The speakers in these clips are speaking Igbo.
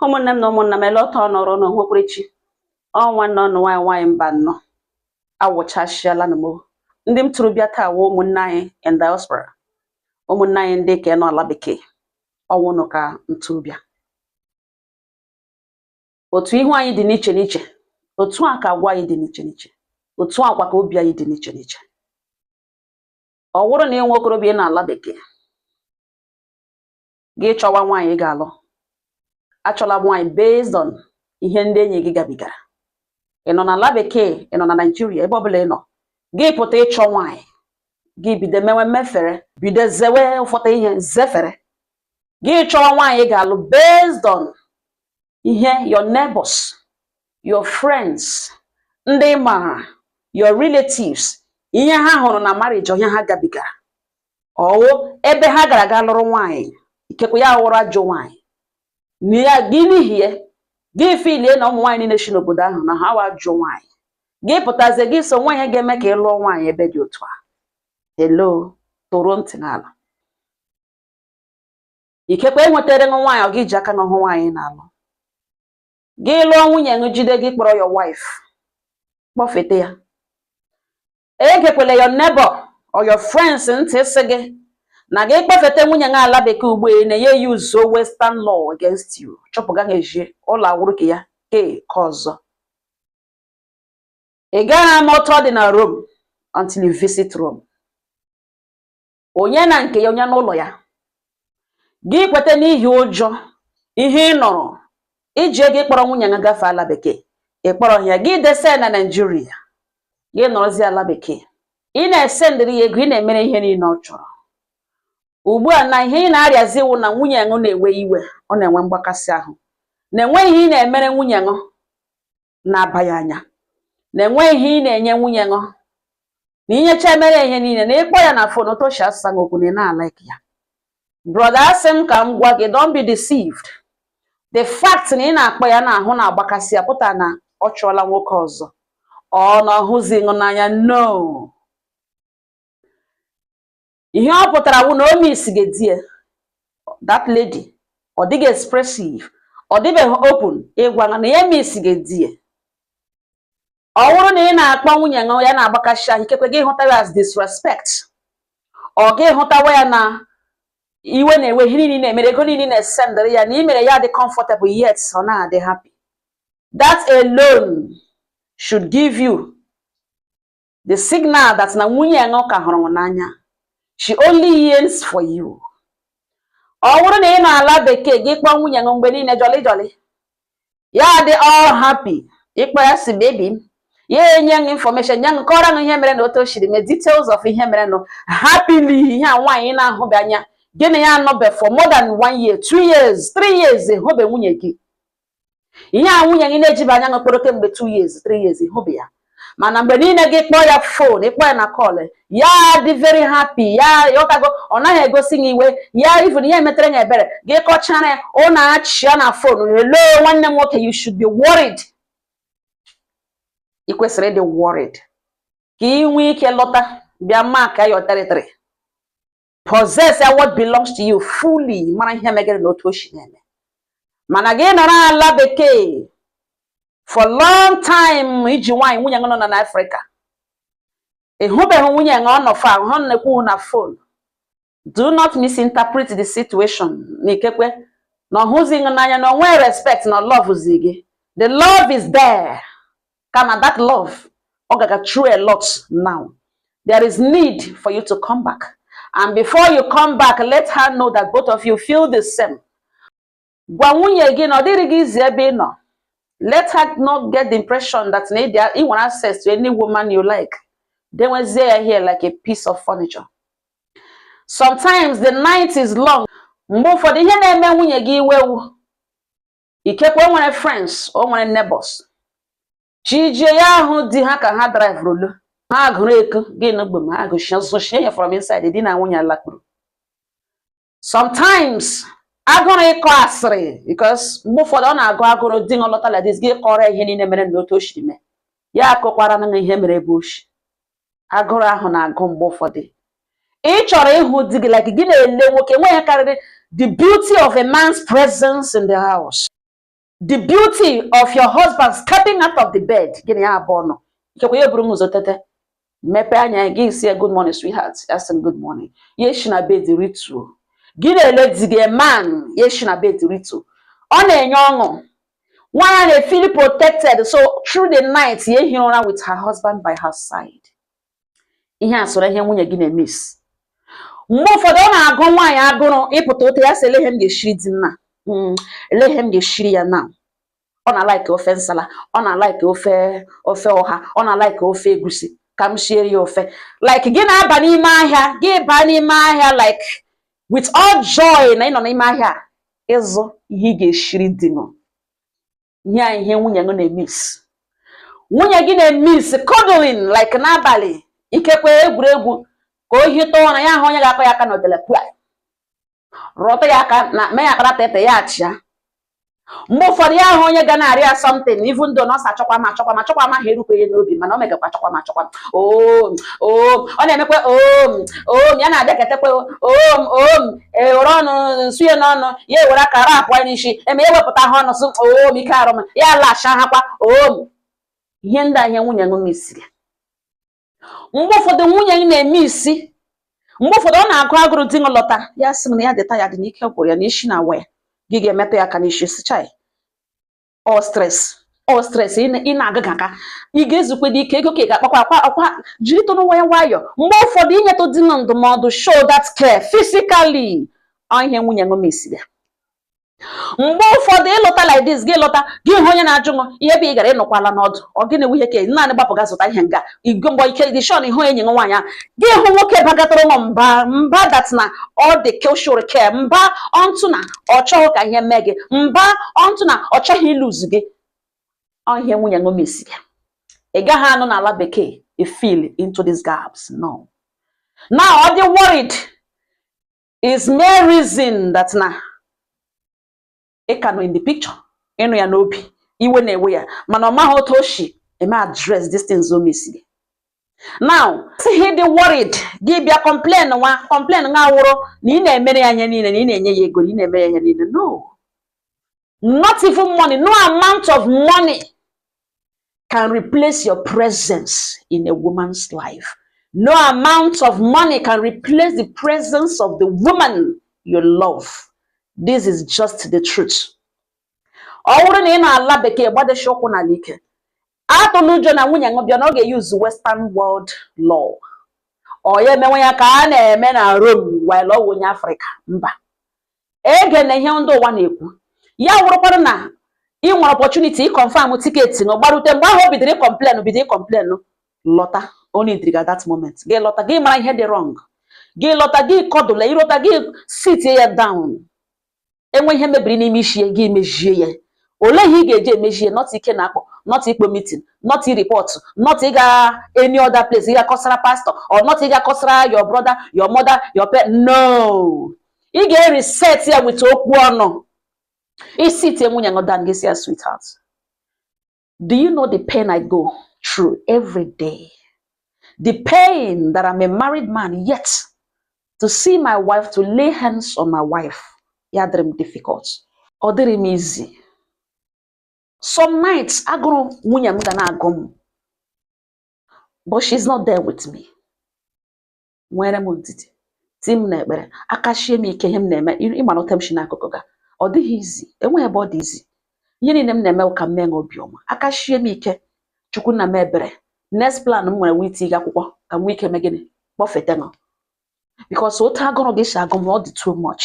ụmụnne m na ụmụnna m ele ọtọ nọrọ na onwekwere chi ọnwa nọ nụ nwaanyị nwaanyị mba nnọ awụchasịala na m ndị m tụrụ bịa taa wụ ụmụnne anyị in diaspora ụmụnne anyị ndị ka nọ ala bekee ọ wụ ụnụ ka m tụrụ bịa otu ihu anyị dị n'iche n'iche otu a ka agwa anyị dị n'iche n'iche otu a kwa ka obi anyị dị n'iche n'iche ọ wụrụ na ị wụ okorobịa nọ ala bekee gị chọwa nwaanyị ị ga-alụ achọla nwaanyị based on ihe ndị enyi gị gabigara ị nọ n'ala bekee ị nọ na naijiria ebe ọbụla ị nọ gị pụta ịchọ nwaanyị gị bido mewe mmefere bido zewe ụfọdụ ihe zefere gị chọwa nwaanyị ị ga-alụ based on ihe your neighbors your friends ndị ị maara your relatives ihe ha hụrụ na marriage or ihe ha gabigara ọ wụ ebe ha gara ga lụrụ nwaanyị ikekwe ya wụrụ ajọ nwaanyị na gị n'ihi ya gị filie na ụmụ nwaanyị niile si n'obodo ahụ na ha wụ ajọ nwaanyị gị pụtazie gị sọwa ihe ga-eme ka ị lụọ nwaanyị ebe dị otu a hello tọrọ ntị n'ala ikekwe ewetara ṅụ nwaanyị or gị ji aka ṅụ hụ nwaanyị ị na-alụ gị lụọ nwunye ṅụ jide gị kpọrọ your wife kpọfete ya egekwele your neighbor or your friends ntị sị gị na gị kpọfeta nwunye gị ala bekee ugbu a na ya yuzuo western law against you chụpụ gị ezi ụlọ awụrụ ke ya ke ọzọ ị gaghị ama otu ọ dị na Rome until you visit Rome onye na nke ya onye n'ụlọ ya gị kweta n'ihi ụjọ ihe ị nụrụ i ji ego ịkpọrọ nwunye gị gafee ala bekee ị kpọrọ ya gị desa ya na naijiria gị nọrọzi ala bekee ị na-esendịrị ya ego ị na-emere ihe niile ọ chọrọ ugbu a na ihe ị na-arịazi wụ na nwunye ṅụ na-ewe iwe ọ na-enwe mgbakasị ahụ na enweghị ihe ị na-emere nwunye ṅụ na-aba ya anya na enweghị ihe ị na-enye nwunye ṅụ na inyecha emere ihe niile na ị kpọọ ya na fon otu o shi asa ṅụ okwu na ị na-alaik ya brọda asị m ka m gwa gị don't be deceived the fact na ị na-akpọ ya na ahụ na-agbakasị ya pụtara na ọ chọọla nwoke ọzọ or na ọ hụzi ṅụ n'anya no ihe ọ pụtara bụ na ọ miss gị die that lady ọ dịghị expressive ọ dịbeghị open ịgwa na ya miss gị die ọ bụrụ na ị na-akpọ nwunye ṅụ ya na-agbakasị ahụ ikekwe gị hụtawa ya as disrespect or gị hụtawa ya na iwe na-ewe ihe niile ị na-emere ego niile ị na-esendịrị ya na i mere ya dị comfortable yet ọ na-adị happy that alone should give you the signal that na nwunye gị ka hụrụ gị n'anya she only yearns for you ọ bụrụ na ị nọ ala bekee gị kpọọ nwunye gị mgbe niile jolly jolly ya dị all happy ị kpọọ ya sị baby m ya enye gị information nye gị kọrọ gị ihe mere na otu o siri mee details of ihe mere nụ happily ihe a nwaanyị na-ahụbe anya gị na ya anọbe for more than one year two years three years ị hụbe nwunye gị ihe a nwunye gị na-ejibe anya hụ kpọrọ kemgbe 2 years 3 years ị hụbe ya mana mgbe niile gị kpọọ ya phone ị kpọọ ya na call ya dị very happy ya ọtago ọ naghị egosi gị iwe ya even ihe metere ya ebere gị kọchara ya unu achịa na phone hello nwanne m nwoke you should be worried ị kwesịrị ịdị worried ka ị nwee ike lọta bịa markịa your territory possess what belongs to you fully mara ihe megere na otu o si na-eme mana gị nọrọ ala bekee for long time i ji nwaanyị nwunye gị nọ na Afrịka ị hụbeghị nwunye gị ọ nọ far unu na-ekwu na phone do not misinterpret the situation na ikekwe na ọ hụzi gị n'anya na o nwe respect na ọ lovezi gị the love is there kama that love ọ gaga through a lot now there is need for you to come back and before you come back let her know that both of you feel the same gwa nwunye gị na ọ dịrị gị easy ebe ị nọ let her not get the impression that na i nwere access to any woman you like dewezie ya here like a piece of furniture sometimes the night is long mgbe ụfọdụ ihe na-eme nwunye gị iwe wụ ikekwe o nwere friends o nwere neighbors chi jie ya ahụ di ha ka ha drivuru lọ ha gụrụ eko gị na ogbe ma ha gụchie ya from inside di na nwunye alakpuru sometimes agụrụ ịkọ asịrị because mgbe ụfọdụ ọ na-agụ agụrụ di na lọta like this gị kọrọ ihe niile mere na otu o siri mee ya akọkwara na ihe mere ebe o shi agụrụ ahụ na-agụ mgbe ụfọdụ ị chọrọ ịhụ di gị like gị na-ele nwoke e nwe ihe karịrị the beauty of a man's presence in the house the beauty of your husband stepping out of the bed gị na ya abụọ nọ ikekwe ya eburu ụzọ tete mepee anya gị sị ya good morning sweetheart ya sị good morning ya esi na bed rituo gị na-ele di gị man ya esi na bed rituo ọ na-enye ọṅụ Nwaanyị na-efeel protected so through the night ya ehi ụra with her husband by her side. Ihe a soro ihe nwunye gị na-emiss. Mgbe ụfọdụ ọ na-agụ nwaanyị agụrụ ịpụta otu ya sị elee ihe m ga-eshiri di m na hmm, elee ihe m ga-eshiri ya na ọ na-alike ofe nsala ọ na-alike ofe ofe ọha ọ na-alike ofe egusi ka m shiere ya ofe like gị na-aba n'ime ahịa gị baa n'ime ahịa like with all joy na ịnọ n'ime ahịa ịzụ ihe ị ga-eshiri di ṅụ ihe a ihe nwunye gị na-emiss nwunye gị na-emiss cuddling like n'abalị ikekwe egwuregwu ka o hita ụra ya ahụ onye ga-akọ ya aka n'otele pịa rọta ya aka na mee ya akpara tete ya achịa mgbe ụfọdụ ya ahụ onye ga na-arịọ ya something even though na ọ sị achọkwa m achọkwa m achọkwa m ahụ erukwa ya n'obi mana o megakwa achọkwa m achọkwa oom oom ọ na-emekwa oom oom ya na-abịaketekwa oom oom ewere ọnụ nsu ya n'ọnụ ya ewere aka ra apụọ n'isi eme ya wepụta ha ọnụ sụ oom ike arụ m ya lacha ha kwa oom ihe ndị a ihe nwunye ṅụ missiri mgbe ụfọdụ nwunye ṅụ na-emiss mgbe ụfọdụ ọ na-agụ agụrụ di ṅụ lọta ya sị na ya dị tired n'ike gwụrụ ya n'isi na-awa ya gị ga-emetụ ya aka n'isi sị chai ọ stress ọ stress ị na-agaghị aka ị ga-ezukwe dị ike ego ka ị ga-akpakwa akwa akwa jiritụnụ nwayọ nwayọ mgbe ụfọdụ inyetụ di ṅụ ndụmọdụ show that care physically ọ ihe nwunye ṅụ missiri ya mgbe ụfọdụ ịlọta like this gị lọta gị hụ onye na-ajụ ṅụ ebe ị gara ị nọkwala ọdụ ọ gịnị nwunye ka naanị gbapụ ga zụta ihe nga igwe mgbe ị ka dị sure na ị hụ enyi nwaanyị a gị hụ nwoke bagatara ụlọ mba mba that na ọ dị keshụrụ care mba onto na ọ chọghị ka ihe mee gị mba onto na ọ chọghị ilose gị ọ ihe nwunye ṅụ missi gị ị gaghị anọ n'ala bekee efill into these gaps no now ọ dị worried is mere reason that na ị ka nọ in the picture ị nọ ya n'obi iwe na-ewe ya mana ọ maghị otu o si eme address these things ọ missiri now ihe dị worried gị bịa complainwa complainwa wụrụ na ị na-emere ya ihe niile na ị na-enye ya ego na ị na-emere ya ihe niile no not even money no amount of money can replace your presence in a woman's life. No amount of money can replace the presence of the woman you love. This is just the truth. ọ wụrụ na ị nọ ala bekee gbadeshi ụkwụ n'ala ike atụla ụjọ na nwunye ṅụ bịa na ọ ga-euse western world law or ya emewe ya ka a na-eme na Rome while ọ wụ onye Afrịka mba egena ihe ndị ụwa na-ekwu ya wụrụkwara na ị nwere opportunity iconfirm ticket ṅụ gbarute mgbe ahụ o bidoro icomplain bido icomplain lọta onye ndiriga that moment gị lọta gị mara ihe dị wrong gị lọta gị cuddle ya ị lọta gị sitie ya down e nwee ihe mebiri n'ime isi ya gị mejie ya olee ihe ị ga-eji emejie not ike na akpọ not ịkpọ meeting not report not ịga any other place ịga kọsara pastor or not ịga kọsara your brother your mother your parent no ị ga-ereset ya with okwu ọnụ ị sitie nwunye ṅụ down gị sị ya sweetheart do you know the pain I go through every day the pain that I'm a married man yet to see my wife to lay hands on my wife ya adịrị m difficult ọ dịrị m easy some nights agụrụ nwunye m ga na-agụ m but she's not there with me nwere m ndidi ti m n'ekpere aka shie m ike ihe m na-eme ị mara ote m si n'akụkụ ga ọ dịghị easy enweghị ebe ọ dị easy ihe niile m na-eme ka m mee obiọma aka shie m ike chukwu na m ebere next plan m nwere wụ itige akwụkwọ ka m nwee ike mee gịnị kpọfete ṅụ because otu agụrụ gị si agụ m ọ dị too much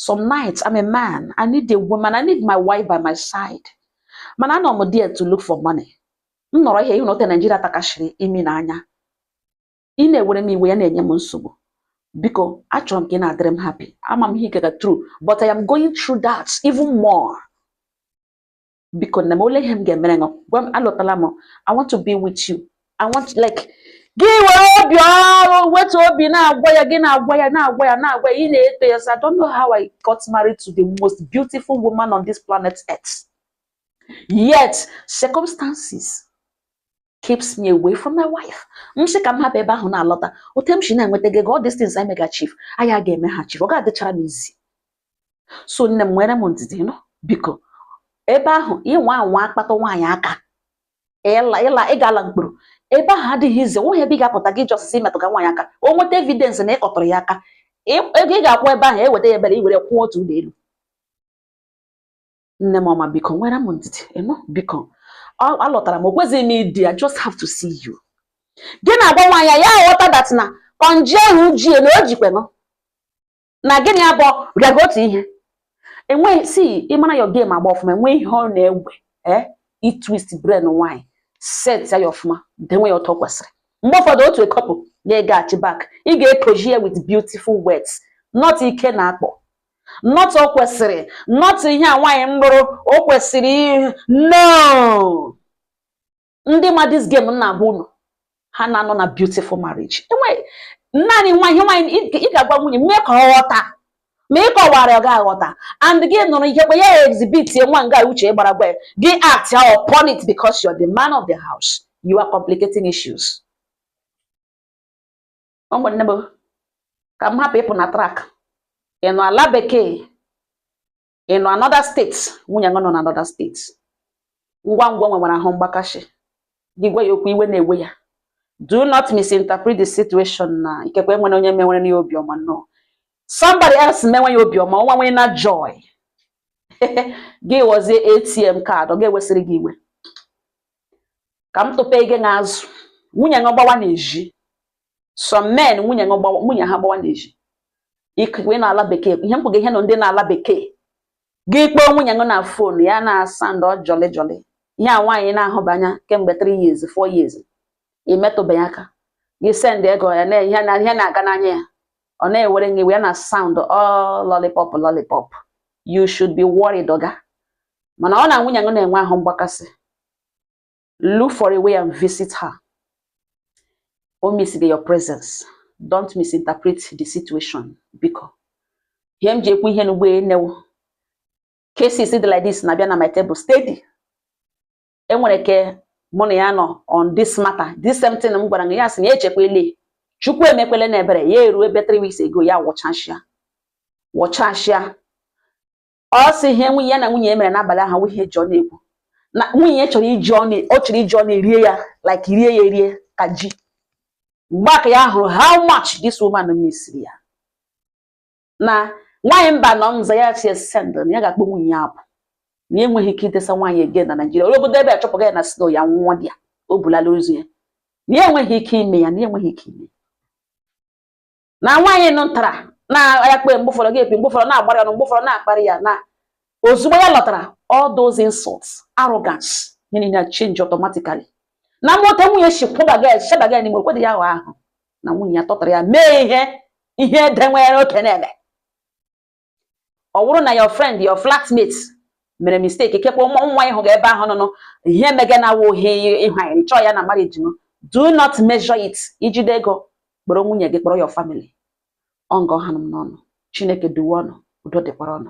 some nights I'm a man I need a woman I need my wife by my side mana anọ m there to look for money m nọrọ here ị hụna ote Naijiria takashiri imi na anya ị na-ewere m iwe ya na-enye m nsogbu biko achọrọ m ka ị na-adịrị m happy ama m ihe ị gaga through but I am going through that even more biko nne m ole ihe m ga-emere ṅụ gwa m alọtala m I want to be with you I want like gị were obi ọrụ wetu obi na-agwa ya gị na-agwa ya na-agwa ya na-agwa ya ị na-eto ya so I don't know how I got married to the most beautiful woman on this planet earth yet circumstances keeps me away from my wife m sị ka m hapụ ebe ahụ na-alọta otu m si na-enweta gị all these things I mega achieve anyị a ga-eme ha achieve ọ ga-adịchara m easy so nne m nwere m ndidi ị nụ biko ebe ahụ ị nwaa anwa kpatụ nwaanyị aka ị la ị la ị ga-ala mkpọrọ ebe ahụ adịghị easy nweghị ebe ị ga-apụta gị just sị ị metụga nwaanyị aka o nweta evidence na ị kpatụrụ ya aka ego ị ga-akwụ ebe ahụ e weta ya ebe a e were kwụọ otu ụlọ elu nne m ọma biko nwere m ndidi ị nụ biko alọtara m o kwezighị m idi I just have to see you gị na-agwa nwaanyị ya aghọta that na kọnji ahụ ji ya o jikwe ṅụ na gị na ya abụọ rịaga otu ihe enweghị si ị mara your game agba ọfụma enweghị ihe ọ na-ewe ee eh, ị twist brain nwaanyị set ya ọfụma denwe ya otu o kwesịrị mgbe ụfọdụ otu ekọpụ na-egaghachi back ị ga-ekoji ya with beautiful words not ike na akpọ not o kwesịrị not ihe a nwaanyị mgbụrụ o kwesịrị no ndị ma this game m na-agwa unu ha na-anọ na beautiful marriage enweghị naanị nwa ihe nwaanyị ị ga-agwa nwunye mee ka ọ ghọta ma ị kọwara ọ ga-aghọta and gị nụrụ ihe kwe ya exhibit nwa nga uche gbara gwa gị act upon it because you're the man of the house you are complicating issues ụmụnne m ka m hapụ ịpụ na track ị nọ ala bekee ị nọ another state nwunye nọ na another state ngwa ngwa nwewara ahụ mgbakashi gị gwa ya okwu iwe na-ewe ya do not misinterpret the situation na ikekwe e nwere onye mewere ya obiọma no somebody else mewe ya obiọma ọnwa nwere na joy gị ghọzie atm card ọ ga-ewesịrị gị iwe ka m tụpe gị n'azụ nwunye gị gbawa n'ezi some men nwunye nwunye ha gbawa n'ezi ị nọ ala bekee ihe m kwuga ihe a ọ ndị nọ ala bekee gị kpọọ nwunye gị na phone ya na sound ọ jolly jolly ihe a nwaanyị na-ahụba anya kemgbe 3 years 4 years i metụbeghị ya aka gị send ego ya na ihe na-aga n'anya ya ọ na-ewere gị ya na sound ọ lollipop lollipop you should be worried oga mana ọ na nwunye gị na-enwe ahụ mgbakasị look for a way and visit her ọ missiga your presence don't misinterpret the situation biko ihe m ji ekwu ihe n'ugbu a na-awụ cases dị like this na-abịa na my table steady enwere ke mụ na ya nọ on this matter this same thing m gwara gị ya sị na echekwele chukwu emekwele na ebere ya eruo ebe three weeks ago ya wụchachịa wụchachịa ọ sị ihe nwunye ya na nwunye ya mere n'abalị ahụ awụghị ihe e ji ọnụ ekwu na nwunye chọrọ iji ọnụ erie ya like rie ya erie ka ji mgbe a ka ya hụrụ how much this woman misiri ya na nwaanyị mba nọ nza ya si send na ya ga-akpọ nwunye ya apụ na ya enweghị ike idesa nwaanyị ege na Nigeria onye obodo ebe achụpụga ya na snow ya nwụọ dị ya o bulala ozu ya na ya enweghị ike ime ya na ya enweghị ike ime na nwaanyị nụ ntara na-agha kpe mgbe ụfọdụ ga-epi mgbe ụfọdụ na-agbara ya na mgbe ụfọdụ na-akparị ya na ozugbo ya lọtara all those insults arrogance ihe niile change automatically na mmụta nwunye si kwụbaga ya chebaga ya n'ime okwedị ya ahụ na nwunye ya tọtara ya mee ihe ihe ede nwere oke na-eme ọ bụrụ na your friend your flatmate mere mistake ikekwe ụmụ nwa ị hụga ebe ahụ nụnụ ihe mege na awụ ihe ịhụ anyị chọọ ya na marriage no do not measure it i jide ego kpọrọ nwunye gị kpọrọ your family ọngọ ha n'ọnụ chineke duwe ụnụ udo dịkwara ụnụ